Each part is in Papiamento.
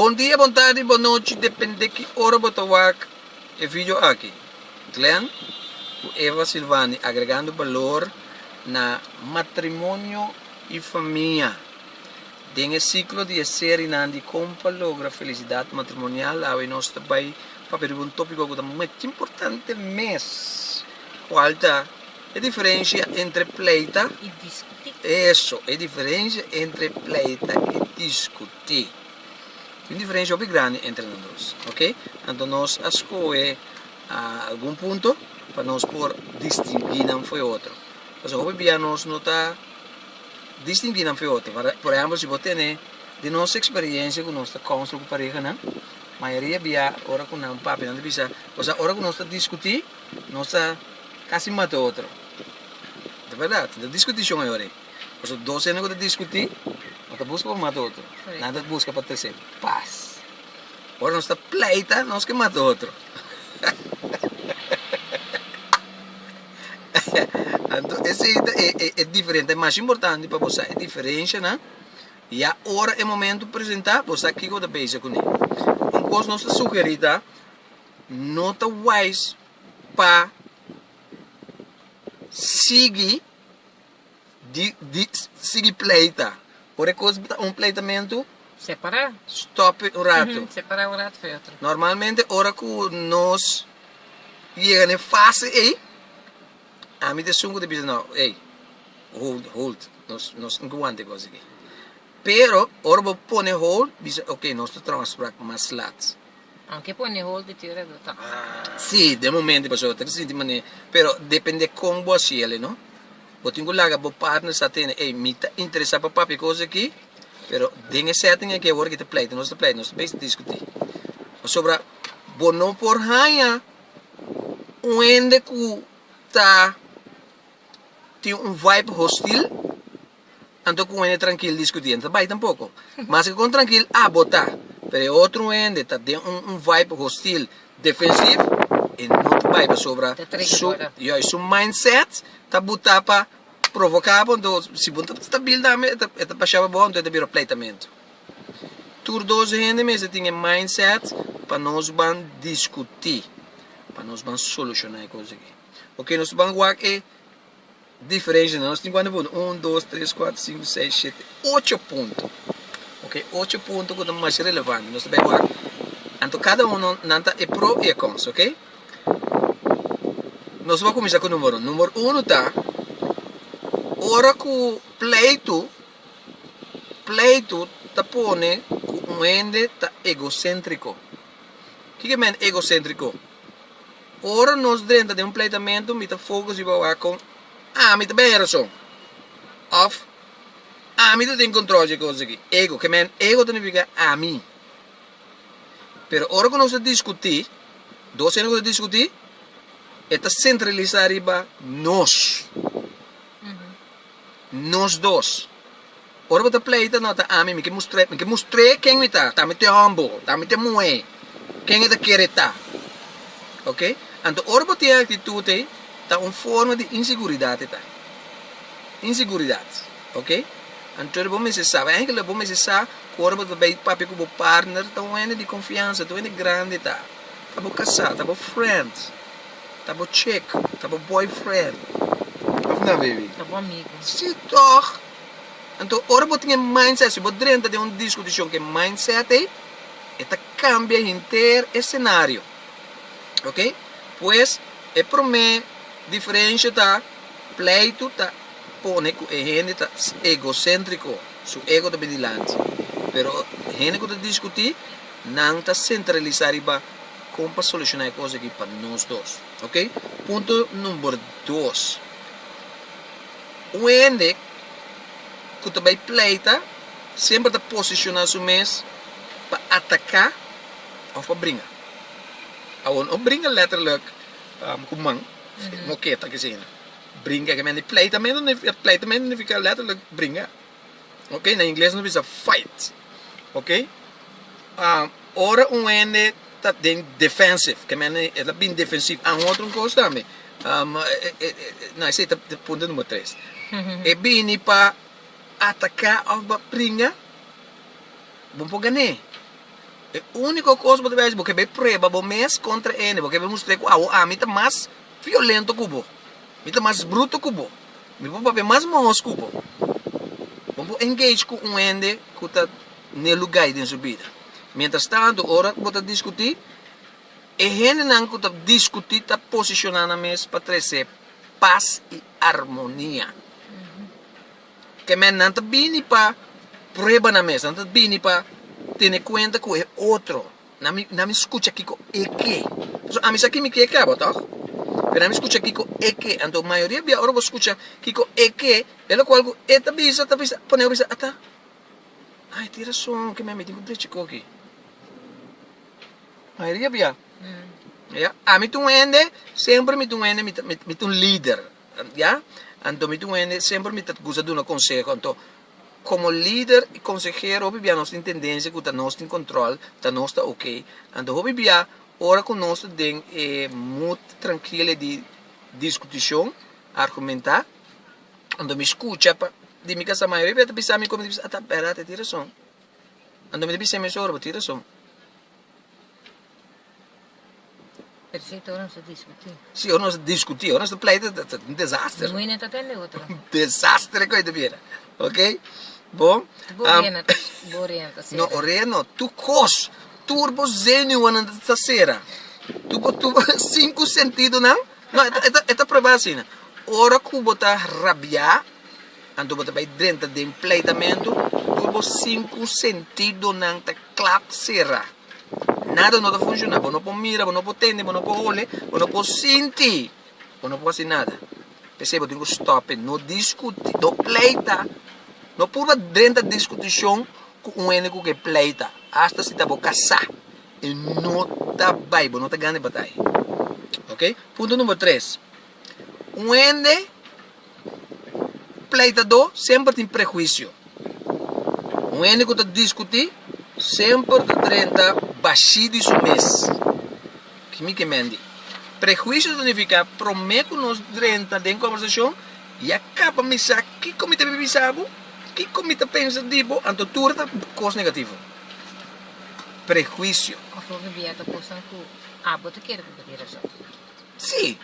Bon dia, bon tardi, bon nochi, depende ki ora bo ta wak e video aki. Glen cu Eva Silvani agregando balor na matrimonio y famia. Den e ciclo di e serienan di Con pa logra felicidad matrimonial awe nos ta bay papia riba un topico cu ta machi importante mes cual ta. E diferensia entre pleita i diskutí. Eso, e diferensia entre pleita i diskutí. Tin un diferensia hopi grandi entre nan dos, ok? Anto nos a skohe algun punto pa nos por distinguí nan fu e otro. Pasobra hopi bia nos no ta distinguí nan fu e otro. Por ehèmpel, si bo tene den nos eksperiensia ku nos ta kònstru ku parehanan, mayoria bia ora ku nan papinan ta bisa, ora ku nos ta diskutí, Nos ta casi mata otro. Ta verdad. No ta discuti shon ayo'e. Pasobra dos hende cu ta discuti no ta busca pa mata otro. Nan ta busca pa trece paz. Ora nos ta pleita nos ke mata otro. Anto esey ta e diferencia. E mas importante pa bo sa e diferencianan. Ya ora e momento presenta bo sa kiko bo ta base cune. Un cos nos ta sugeri ta. no ta wise pa sigui di di sigui pleita ora e cos ta un pleitamento separa stop un rato separa un rato for otro normalmente ora cu nos yega na e fase ey ami ta esun cu ta bisa no ey hold hold nos nos tin cu wanta e cos aki pero ora bo pone hold bisa ok nos ta trabaha mas laat. Nan ke pone hold di tur e ruta. Si, den momento i pasobra ta di sinti manera. Pero depende kon bo a siel e no. Bo tin ku laga bo partner sa tende, ey, mi ta interesa pa papia kos aki, pero den e setting aki awor aki ta pleita, nos ta pleita, nos ta bes diskuti. Pasobra bo no por haña un hende ku ta tin un vibe hostil Anto ku un hende trankil diskutí no ta bai tampoko. Maske kon trankil a bo ta, pero e otro hende ta den un un vibe hostil, defensif, e no ta bai pasobra su yuis su mindset ta buta pa provoká bo anto si bo no ta bil tambe e ta e ta basha pa bo anto e ta bira pleitamentu. Tur dos hende mester tin e mindset pa nos ban diskutí, pa nos ban solushoná e kos aki. Oke nos ta ban wak e. Diferenshanan nos tin ku anda pone un dos tres kuater sinku seis shete ocho punto ok ocho punto ku ta masha relevante nos ta bay ora anto kada uno nan ta e pro y e cons ok nos por kuminsha ku numero uno numero uno ta ora ku pleito pleito ta pone ku un hende ta egocentrico kiko ta mende egocentrico. Ora nos drenta den un pleitamentu mi ta focus riba wak con ami ta bay e rason of ami ta tin control dje cosas aki, ego, ke men ego ta nifica ami. Pero ora cu nos ta discuti, dos hende cu ta discuti e ta centralisa riba nos. Nos dos. Ora bo ta pleita no ta ami mi ke mustr'é mi ke mustr'é ken mi ta ta mi te humble ta mi te muhé ken e ta kere ta ok anto ora bo tin e aktitut ei ta un forma di inseguridat e ta inseguridat ok anto bo mester sa wei aigila bo mester sa ku ora bo ta bei papia ku bo partner ta un hende di konfiansa ta un hende grandi ta ta bo kasa ta bo friend. Ta bo chick, ta bo boyfriend. Of nan baby? Ta bo amigo. Sí tòg! Anto ora bo tin e mindset, si bo drenta den un diskutishon ku e mindset ei, e ta kambia henter e senario. Oke? Pues, e promé diferensha ta, pleitu ta pone ku e hende ta egocéntrico, su ego ta bin dilanti. Pero hende ku ta diskutí, nan ta sentralisá riba. Kon pa solushoná e kos akí pa nos dos? Ok, punto number dos, un hende ku ta bai pleita semper ta posishoná su mes pa ataká òf pa bringa. Awor, no bringa letterlijk ku man, moketa, kesei. Bringa, pleitamentu, pleitamentu nifiká letterlijk bringa. ok na ingles nos bisa fight ok ora un hende ta den defensive ke mende e ta bini defensivo a un otro kos tambe no esei ta punto numero tres e bini pa ataka of pa pringa bo por gan'é e uniko kos bo ta bes bo ke bai prueba bo mes kontra hende bo ke bai mustr'é ku awo ami ta mas violento ku bo mi ta mas bruto ku bo. Mi por papia mas mohos cu bo. Bo por engage cu un hende cu ta n'e lugai den su bida. Mientras tanto, ora bo ta discuti, e hendenan cu ta discuti ta posiciona nan mes pa trece paz y armonia. Kemey nan ta bini pa prueba nan mes, nan ta bini pa tene cuenta cu e otro. Na mi na mi scucha kico e ke. Pasobra ami sa kimi ke ke abo toch? Pero na mi scucha kico e ke. Anto mayoria bia ora bo scucha kico e ke, e loke cu algu e ta bisa ta bisa poneba bisa ata. Ai tin rason ke mi a miti cu drechi cogi. Mayoria bia. Ya. Ami ta un hende semper mi ta un hende mi ta mi ta un lider. Ya. Anto mi ta un hende semper mi ta gusta duna conseho. Anto Komo lider i konsehero hopi bia nos tin tendensia ku ta nos tin kòntròl, ta nos ta ok. Anto hopi bia ora ku nos ta den e mut trankile di diskutishon, argumentá, anto mi skucha pa di mi kasa mayoria hopi bia ta bisa mi ku mi ta bisa a ta bèrdad e tin rason. Anto mi ta bisa mi sor bo tin rason. Perfecto ora nos ta discuti. Si, ora nos ta discuti, ora nos ta pleita, ta un desaster. Muy neta tende otro. Un desaster koe ta bira. Ok? Bon. Bo um, rena, bo rena ta sera. No, ora no, tu kos, tur bo zenuanan ta sera. Tu bo, tu bo, cinco sentidonan, no, eta, eta, eta proba asina. Ora ku bo ta rabia, Anto bo ta bai drenta den pleitamentu tur bo sinku sentidonan ta klap sera. Nada no ta funshoná, bo no por mira, bo no por tende, bo no por hole, bo no por sinti, bo no por hasi nada. P'esei bo tin ku stòp'e, no diskutí, no pleita, no purba drenta diskutishon ku un hende ku ke pleita, hasta si ta bo kasá i no ta bai, bo no ta gana e batay. Oke. Punto number tres, un hende. Pleitadó semper tin prehuisio. Un hende ku ta diskutí semper ta drenta bashí di su mes. Ki mi ke mendi? Prehuisio ta nifiká promé ku nos drenta den kòbersashon ya kaba mi sa kiko mi ta biba di sa bo, kiko mi ta pensa di bo, anto tur ta kos negativo. Prehuisio. Òf lo ta bia ta kosnan ku abo ta kere ku bo tin razon. Sí.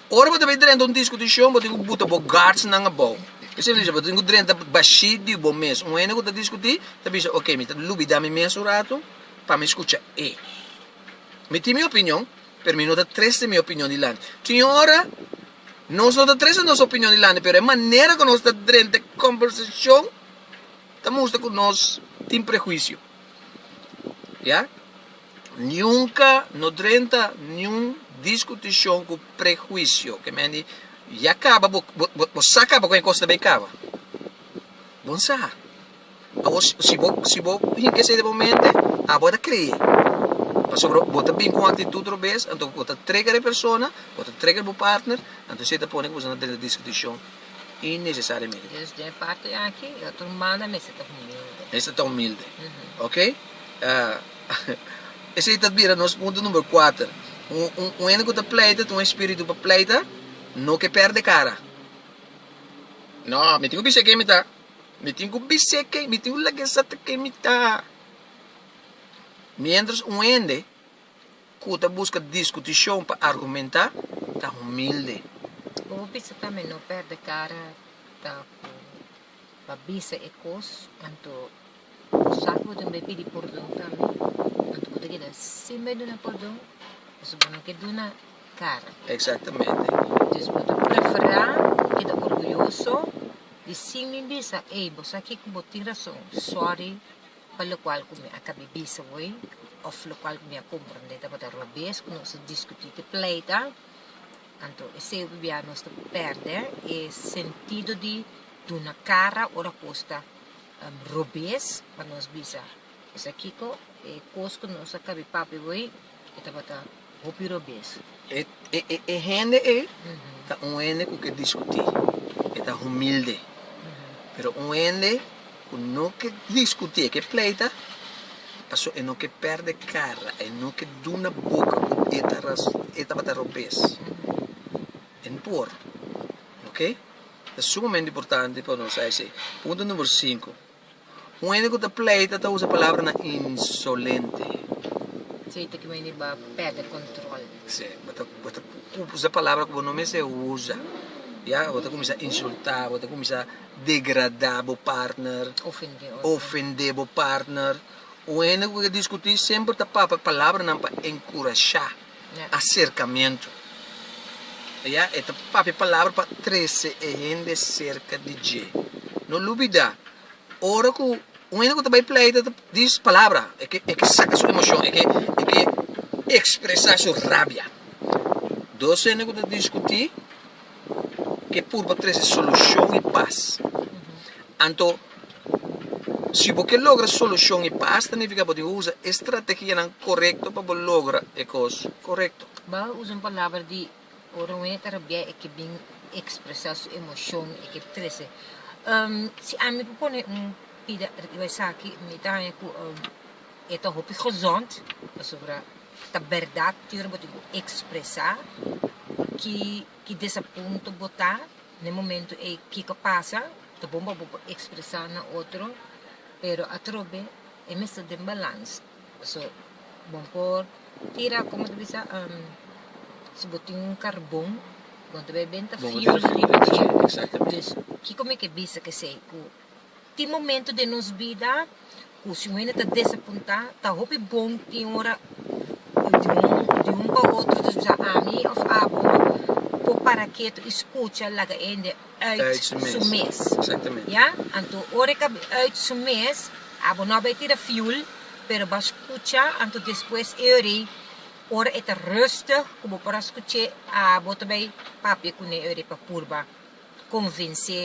Ora bo ta bai drenta un diskutishon bo tin ku buta bo guardsnan abou. Esei ta bisa bo tin ku drenta bashí di bo mes. Un hende ku ta diskutí ta bisa oke mi ta lubidá mi mes un ratu pa mi skucha e. Mi tin mi opinion pero mi no ta trese mi opinion dilanti. Tin yon ora nos no ta trese nos opinion dilanti pero e manera ku nos ta drenta e kòmbersashon ta mustra ku nos tin prehuisio. Ya. Nunka no drenta niun diskutishon ku prehuisio. Ke men di, Ya kaba, bo, bo, bo, bo sa kaba ku e kos ta bay kaba. Bon sa. Awor, si, si bo, si bo hinka esei den bo mente, abo a ta kree. Pasobra bo ta bin ku un aktitut robes, anto bo ta trigger e persona, bo ta trigger bo partner, anto esei ta pone ku boso na drenta diskutishon innesesariamente. Dus den e parti aki, e otro manda mester ta humilde. Mester ta humilde. Oke? Esei ta bira nos punto number kuater. Un hende ku ta pleita, ta un espiritu pa pleita, no ke pèrdè kara. No, mi tin ku bis'é ken mi ta. Mi tin ku bis'é ken, mi tin ku lag'é sa ta ken mi ta. Miéntras un hende ku ta buska diskutishon pa argumentá ta humilde. Bo bisa tambe no pèrdè kara ta ku. pa bisa e kos, anto bo sa ku bo tin bai pidi pordon pa mi, anto bo ta keda sin bai duna pordon, pasobra bo no ke duna kara. Eksaktamente. Entonces bo ta preferá keda orguyoso di sin mi bisa, ey, bo sa ke ku bo tin rason, sòri pa lokual ku mi a kabe bisa bo ey, òf lokual ku mi a komprondé tabata robes ku nos a diskutí te pleita. Anto esei ku bia nos ta pèrdè e sentido di duna kara ora kos ta robes pa nos bisa. Bisa kiko? E kos ku nos a kab'é pap'é bo ei, e tabata hopi robes. E hende ei ta un hende ku ke diskutí. E ta humilde. Pero un hende. Cu no ke discuti, e ke pleita, paso e no ke perde cara, e no ke duna boca cu e ta ras, e tabata robes. E no por. Ok? Ta sumamente importante pa nos sa esey. Punto number sinku. Un hende cu ta pleita ta usa palabranan insolente. Esey ta kiba hende ba perde control. Si. Bo ta, bo ta usa palabra cu bo no mester usa. Ya? Bo ta cuminsa insulta, bo ta cuminsa. degradá bo partner, ofendé bo partner. Un hende ku ke diskutí semper ta papia palabranan pa enkurashá aserkamentu. Oia, e ta papia palabra pa trese e hende serka di dje. No lubidá, ora ku un hende ku ta bai pleita ta dis palabra, e ke e ke saka su emoshon, e ke e ke ekspresá su rabia. Dos hende ku ta diskutí ke purba trese solushon i pas. Anto, si bo ke logra solushon i pas, ta nifiká bo tin ku usa e strategianan korekto pa bo logra e kos korekto. Bo a usa un palabra di ora un hende ta rabiá e ke bin ekspresá su emoshon, e ke trese. Si ami por pone un pida riba esaki, mi ta haña ku. E ta hopi gezond pasobra ta berdad tur bo tin cu expresa ki ki desapunto bo ta n'e momento ey. Kico pasa ta bon pa bo por expresa na otro pero atrobe e mester den balans so bo por tira como ta bisa si bo tin un carbon bo ta bay benta fiume riba dje. Exactamente. Kico mi ke bisa kesey cu. Tin momentu den nos bida ku si un hende ta desapuntá, ta hopi bon tin ora di un pa otro, ta bisa ami òf abo, por para ketu i skucha laga e hende ùit su mes. Ya? Anto ora e ka bin ùit su mes, abo no a bai tira fiul, pero bo a skucha, anto despues e ora ei, ora e ta rustig ku bo por a skuch'é, abo ta bai papia kuné e ora ei pa purba konvens'é.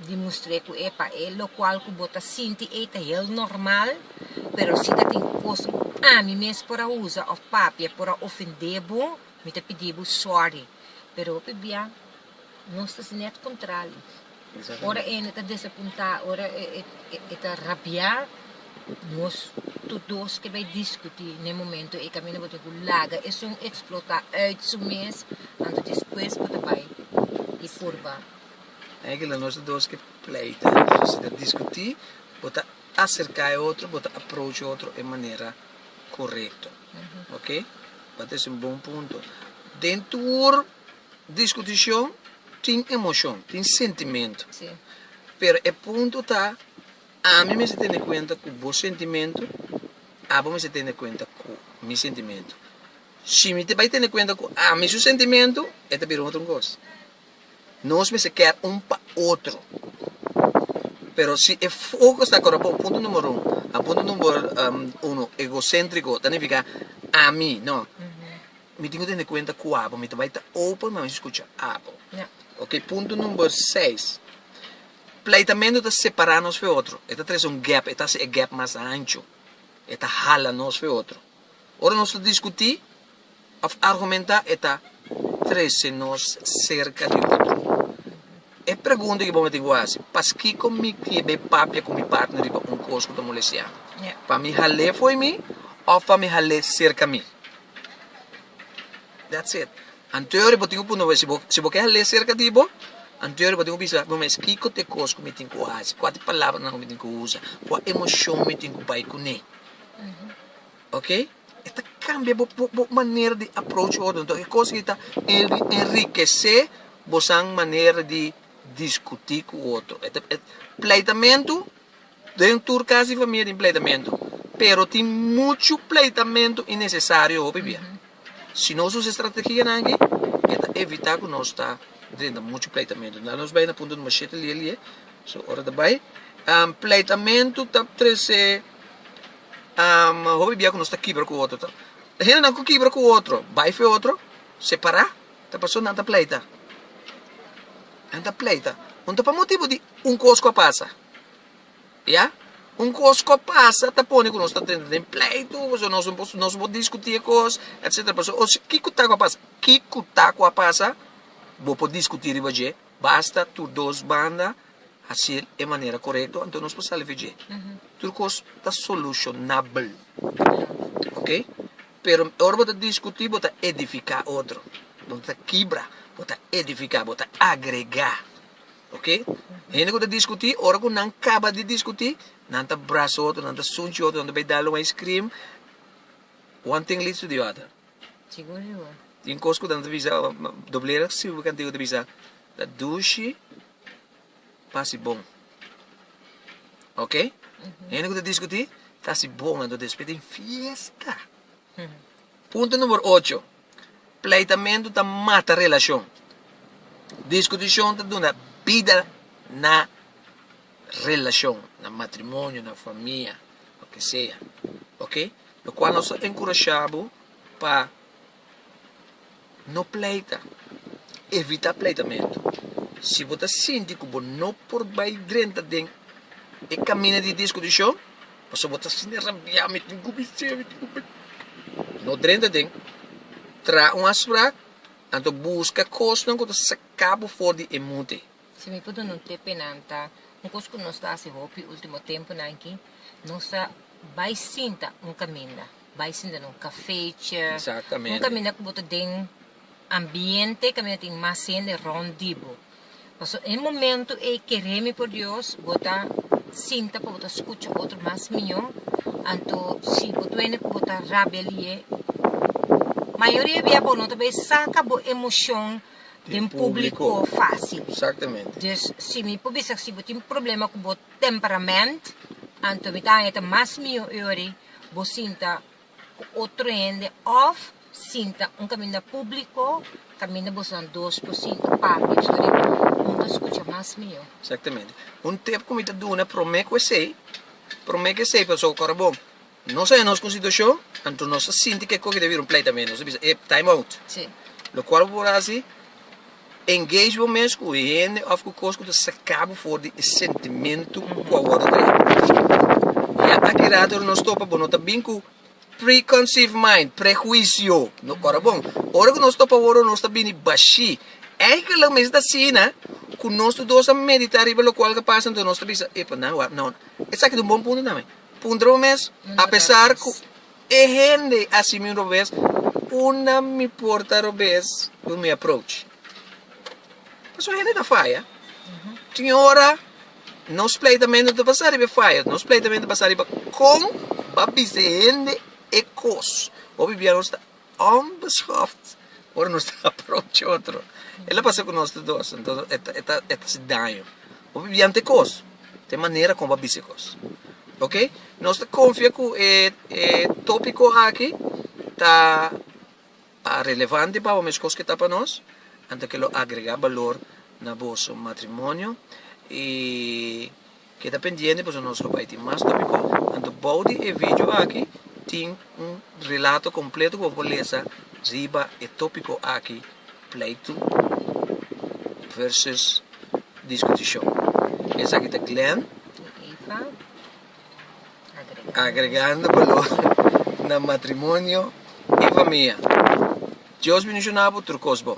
di mustr'é ku e pa e lokual ku bo ta sinti ei ta hel normal, pero si ta tin ku kos ku ami mes por a usa òf papia por a ofendé bo, mi ta pidi bo sòri. Pero hopi bia nos ta hasi nèt kontrali. Ora e hende ta desapuntá, ora e ta rabiá, nos tur dos ke bai diskutí. Na e momentu ei kaminda bo tin ku laga esun eksplotá ùit su mes, anto despues bo ta bai i purba. Kila nos ta dos ke pleita, si ta diskutí bo ta aserká e otro, bo ta aproach e otro e manera korekto, ok, tabata ese un bon punto. Den tur diskutishon tin emoshon, tin sentimentu, pero e punto ta ami mester tene kuenta ku bo sentimentu, abo mester tene kuenta ku mi sentimentu. Si mi te bai tene kuenta ku ami su sentimentu e ta bira un otro kos. Nos mester ker un pa otro. Pero si e foco sta acorda pa un punto number un, a punto number uno, egocentrico, ta nifica ami no. Mi tin cu tene cuenta cu abo, mi ta bay ta open pa mi scucha abo. Ok, punto number seis, pleitamento ta separa nos fu e otro, e ta trece un gap, e ta haci e gap mas ancho, e ta hala nos fu e otro. Ora nos ta diskutí òf argumentá e ta trese nos serka di otro. E pregunta ku bo mester ku hasi, Paskiko mi ke bai papia ku mi partner riba un kos ku ta molestiá mi? Pa mi hal'é fo'i mi òf pa mi hal'é serka mi? That's it. Anteori bo tin ku puntra bo, si bo ke hal'é serka di bo, anteori bo tin ku bisa bo mes, kiko ta e kos ku mi tin ku hasi? Kua ta e palabranan ku mi tin ku usa? Kua emoshon mi tin ku bai kuné? ok e ta cambia bo bo manera di approach otro enton e cosa ki ta enriquece bosan manera di discuti cu otro e ta e pleitamento den tur casa y famia tin pleitamento pero tin mucho pleitamento innecesario hopi bia si nos usa e strategia nan aki e ta evita cu nos ta drenta mucho pleitamento na nos bay na punto numero shete lia lia so ora ta bay pleitamento ta trece Hopi bia ku nos ta kibra ku otro ta e hendenan ku kibra ku otro bai fe otro separá ta pasó nan ta pleita nan ta pleita unda ta pa motibu di un kos ku a pasa ya un kos ku a pasa ta pone ku nos ta entra den pleitu pasobra nos no por nos no por diskutí e kos etcetera pasobra os kico ta ku a pasa kico ta ku a pasa bo por diskutí riba dje basta tur dos banda. hasil e manera korekto anto nos por salve dje tur kos ta solushonabel ok pero ora bo ta diskutí bo ta edifiká otro bo no ta kibra bo ta edifiká bo ta agregá ok hende ku ta diskutí ora ku nan kaba di diskutí nan ta brasa otro nan ta sunchi otro nan ta bai dal un ice cream one thing leads to the other tin kos ku nan ta bisa doblera sirbi kantidad ku ta bisa ta dushi. pa si bon ok hende ku ta diskutí ta si bon anto despues tin fiesta punto numero ocho pleitamentu ta mata relashon diskutishon ta duna bida na relashon na matrimonio na famia lo ke sea ok lo kual nos ta enkurashá bo pa No pleita. Evita pleitamentu. Si bo ta sinti ku bo no por bai drenta den e kaminda di diskutishon pasobra bo ta sinti rabiá, mi tin ku bisé, mi tin ku bisé, no drenta den. Traha un afsprak, anto buska kosnan ku ta saká bo for di e mute. Si mi por duna un tip enan ta, un kos ku nos ta hasi hopi último tempunan aki, nos a bai sinta un kaminda. bai sinta no cafechi, un caminda cu bo ta den ambiente caminda tin mas hende rond di bo, pasobra e momento ey kere mi por Dios bo ta sinta pa bo ta scucha otro mas mijo, anto si bo ta wende cu bo ta rabelie, mayoria bia bo no ta bay saca bo emocion den publico facil, dus si mi por bisa si bo tin problema cu bo temperament anto mi ta haya ta mas mijo ey ora. bo sinta ku otro hende òf sinta un kaminda públiko, kaminda bosnan dos por sinta papia so riba un ta skucha mas mihó. Exactamente. Un tip ku mi ta duna promé ku esei, promé ku esei pasobra ku ora bo nos a haña nos ku un situashon, anto nos ta sinti kiko ku ta bira un pleita, nos ta bisa, ep, time out. Sí. Lokual bo por hasi? Engage bo mes ku hende òf ku kos ku ta saka bo for di e sentimentu ku a wòrdu traha pa bo skinpu. Ya aki rato ora nos topa bo no ta bin ku preconceived mind, prehuisio, no kòrda bon. Ora ku nos topa awor ora nos ta bini bashí. Eika lo mes ta asina ku nos tur dos a meditá riba lokual ku a pasa entonces nos ta bisa, epa nan wak, no, esaki ta un bon punto tambe. Puntra bo mes, apesar ku. E hende a si mi robes unda mi por ta robes cu mi approach. Pasobra hende ta faya. Tin ora nos pleitamento ta basa riba e faya. Nos pleitamento ta basa riba con ba bisa e hende e cos. Hopi bia nos ta onbeschoft ora nos ta approach otro. E lo pasa cu nos ta dos. Entonces e ta haci daño. Bo por bianti kos, ta e manera kon bo a bis'e kos. Oke, nos ta konfia ku e tópiko aki ta relevante pa bo meskos ke ta pa nos, anto ke lo agregá balor na boso matrimonio. I keda pendiente pasobra nos lo bai tin mas tópiko, anto bou di e vidio aki tin un relato kompleto ku bo por lesa riba e tópiko aki. pleitu versus diskutishon. Esaki ta Glenn agregando balor na matrimonio i famia. Dios bendishona bo tur kos bon.